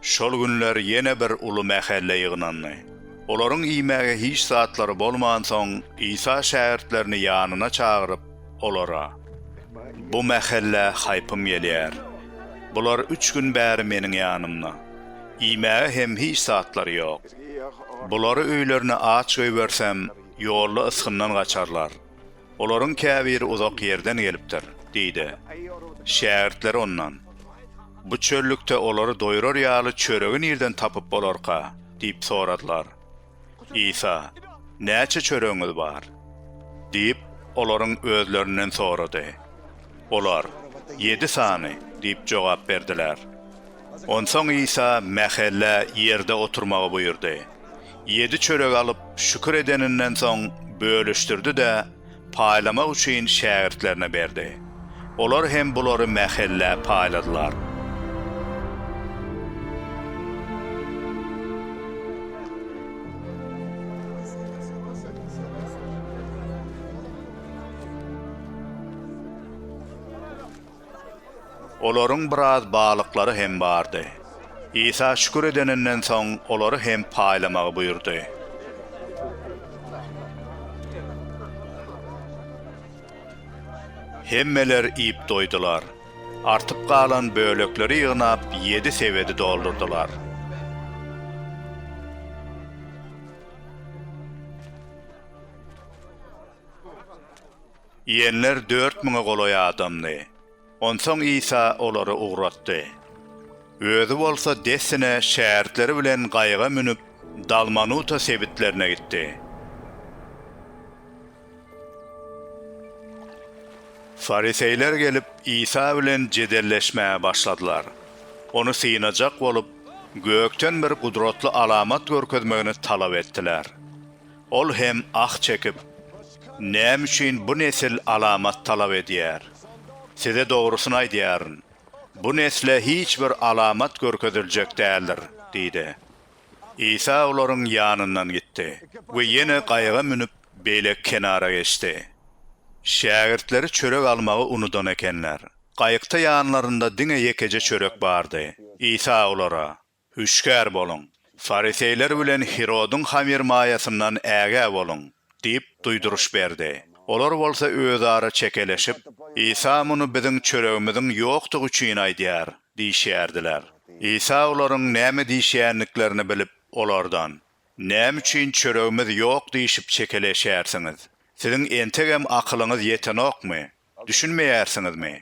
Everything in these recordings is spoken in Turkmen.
Şol günler ýene bir uly mähelle ýygnandy. Olaryň iýmäge hiç zatlary bolmansoň, Isa şägirtlerini ýanyna çagyryp, olara, Bu mähelle haýpym gelýär. Bular üç gün bäri Meniň ýanymda. Iýmäge hem hiç zatlary ýok. Bulary öýlerine aç goýbersem, ýolda ysgyndan gaçarlar. Olaryň käbiri uzak ýerden gelipdir, diýdi. Şägirtleri ondan, Bu çöllükde olary doýrar ýaly çöregi nirden tapyp bolarka? diýip soradylar. Isa, Näçe çöregiňiz bar? diýip, olaryň özlerinden sorady. Olar, Ýedi sany diýip jogap berdiler. Onsoň Isa mähellä ýerde oturmagy buýurdy. Ýedi çörek alyp, şükür edeninden soň, bölüşdirdi-de, paýlamak üçin şägirtlerine berdi. Olar hem bulary mähellä paýladylar. Olaryň biraz balyklary hem bardy. Isa şükür edeninden soň, olary hem paýlamagy buýurdy. Hemmeler iýip doýdular. Artyp galan bölekleri ýygnap, ýedi sebedi doldurdylar. Iýenler dört müňe golaý adamdy. Onsoň Isa olary ugratdy. Özi bolsa dessine şägirtleri bilen gaýyga münüp, Dalmanuta sebitlerine gitdi. Fariseýler gelip, Isa bilen jedelleşmäge başladylar. Ony synajak bolup, gökden bir gudratly alamat görkezmegini talap etdiler. Ol hem ah çekip, Näme üçin bu nesil alamat talap edýär? Size dogrusyny aýdýaryn, bu nesle hiç bir alamat görkeziljek däldir diýdi. Isa olaryň ýanyndan gitdi we ýene gaýyga münüp, beýleki kenara geçdi. Şägirtleri çörek almagy unudan ekenler. Gaýykda ýanlarynda diňe ýekeje çörek bardy. Isa olara, Hüşgär boluň! Fariseýler bilen Hirodyň hamyrmaýasyndan ägä boluň! diýip, duýduryş berdi. Olar bolsa özara çekeleşip, Isa muny biziň çöregimiziň ýokdugy üçin aýdýar diýişýärdiler. Isa olaryň näme diýişýändiklerini bilip, olardan, Näme üçin çöregimiz ýok diýşip çekeleşýärsiňiz? Siziň entegem akylyňyz ýetenokmy? Düşünmeýärsiňizmi?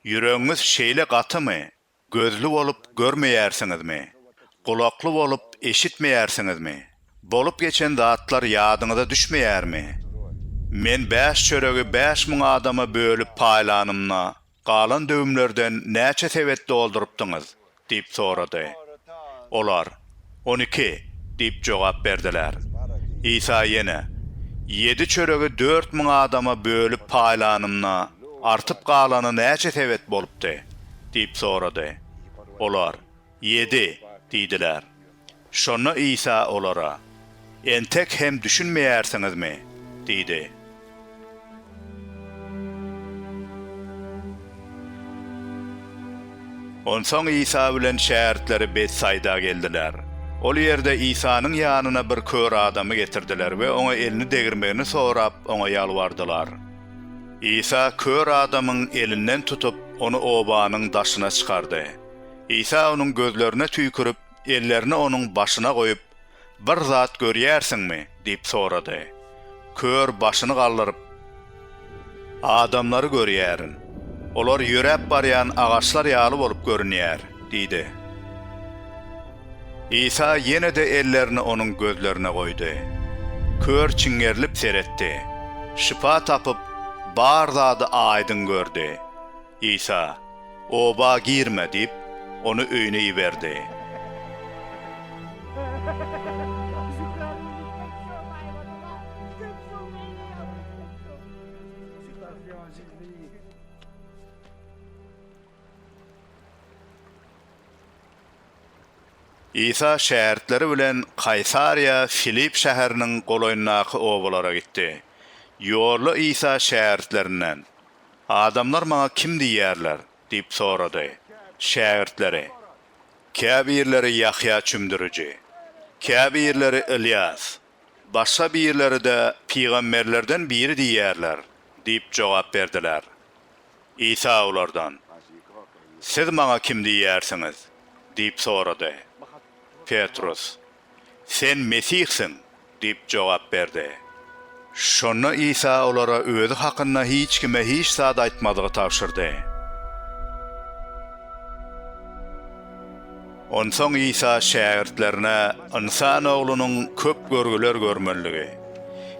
Ýüregiňiz şeýle gatymy? Gözli bolup görmeýärsiňizmi? Gulakly bolup eşitmeýärsiňizmi? Bolup geçen zatlar ýadyňyza düşmeýärmi? Men bäş çöregi bäş müň adama bölüp paýlanymda, galan döwümlerden näçe sebet doldurypdyňyz? diýip sorady. Olar, On iki diýip jogap berdiler. Isa ýene, Ýedi çöregi dört müň adama bölüp paýlanymda, artyp galany näçe sebet bolupdy? diýip sorady. Olar, Ýedi diýdiler. Şonda Isa olara. Entek hem düşünmeýärsiňizmi? diýdi. Onsoň Isa bilen şägirtleri Betsaýda geldiler. Ol ýerde Isanyň ýanyna bir kör adamy getirdiler we oňa elini degirmegini sorap, oňa ýalbardylar. Isa kör adamyň elinden tutup, ony obanyň daşyna çykardy. Isa onuň gözlerine tüýkürip, ellerini onuň başyna goýup, Bir zat görýärsiňmi? diýip sorady. Kör başyny galdyryp, Adamlary görýärin. Olar ýöräp barýan agaçlar ýaly bolup görünýär, diýdi. Isa ýene-de ellerini onuň gözlerine goýdy. Kör çiňerilip seretdi. Şypa tapyp, bar zady aýdyň gördi. Isa, Oba girme diýip, ony öýüne iberdi. Isa şägirtleri bilen Kaýsariýa Filipp şäheriniň golaýyndaky obalara gitdi. Ýolda Isa şägirtlerinden, Adamlar maňa kim diýýärler? diýip sorady. Şägirtleri, Käbirleri Ýahýa Çümdüriji, käbirleri Ylýas, başga birleri-de pygamberlerden biri diýýärler diýip jogap berdiler. Isa olardan, Siz maňa kim diýýärsiňiz? diýip sorady. Petrus. Sen Mesihsiň! diýip jogap berdi. Şonda Isa olara özi hakynda hiç kime hiç zat aýtmazlygy tabşyrdy. Onsoň Isa şägirtlerine Ynsan Oglunyň köp görgüler görmelidigi,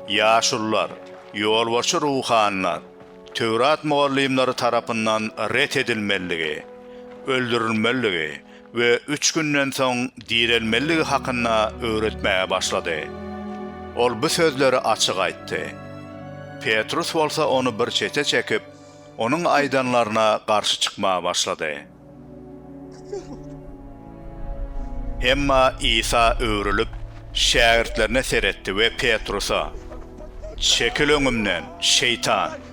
ýaşulular, ýolbaşçy ruhanylar, Töwrat mugallymlary tarapyndan ret edilmelidigi, öldürilmelidigi we üç günden soň direlmelidigi hakynda öwretmäge başlady. Ol bu sözleri açyk aýtdy. Petrus bolsa ony bir çete çekip, onuň aýdanlaryna garşy çykmaga başlady. Emma Isa öwrülip, şägirtlerine seretdi we Petrusa, Çekil öňümden, şeýtan!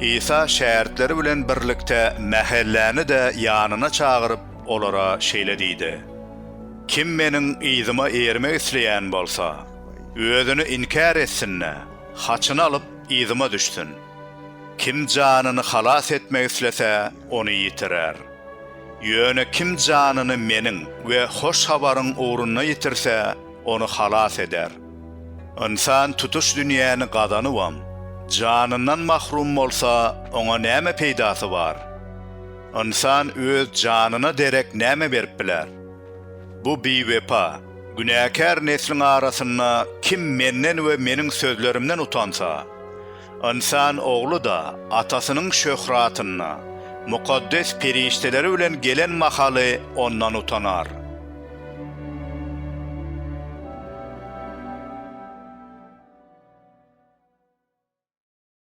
Isa şägirtleri bilen birlikde mähelläni-de ýanyna çagyryp, olara şeýle diýdi, Kim Meniň yzyma ermek isleýän bolsa, özüni inkär etsin-de, haçyny alyp, yzyma düşsün. Kim janyny halas etmek islese, ony ýitirer. Ýöne kim janyny Meniň we Hoş Habaryň ugrunda ýitirse, ony halas eder. Ynsan tutuş dünýäni gazanybam, janyndan mahrum bolsa, oňa näme peýdasy bar? Ynsan öz janyna derek näme berip biler? Bu biwepa, günäkär nesliň arasynda kim Menden we Meniň sözlerimden utansa, Ynsan ogly-da Atasynyň şöhratynda, mukaddes perişdeleri bilen gelen mahaly Ondan utanar.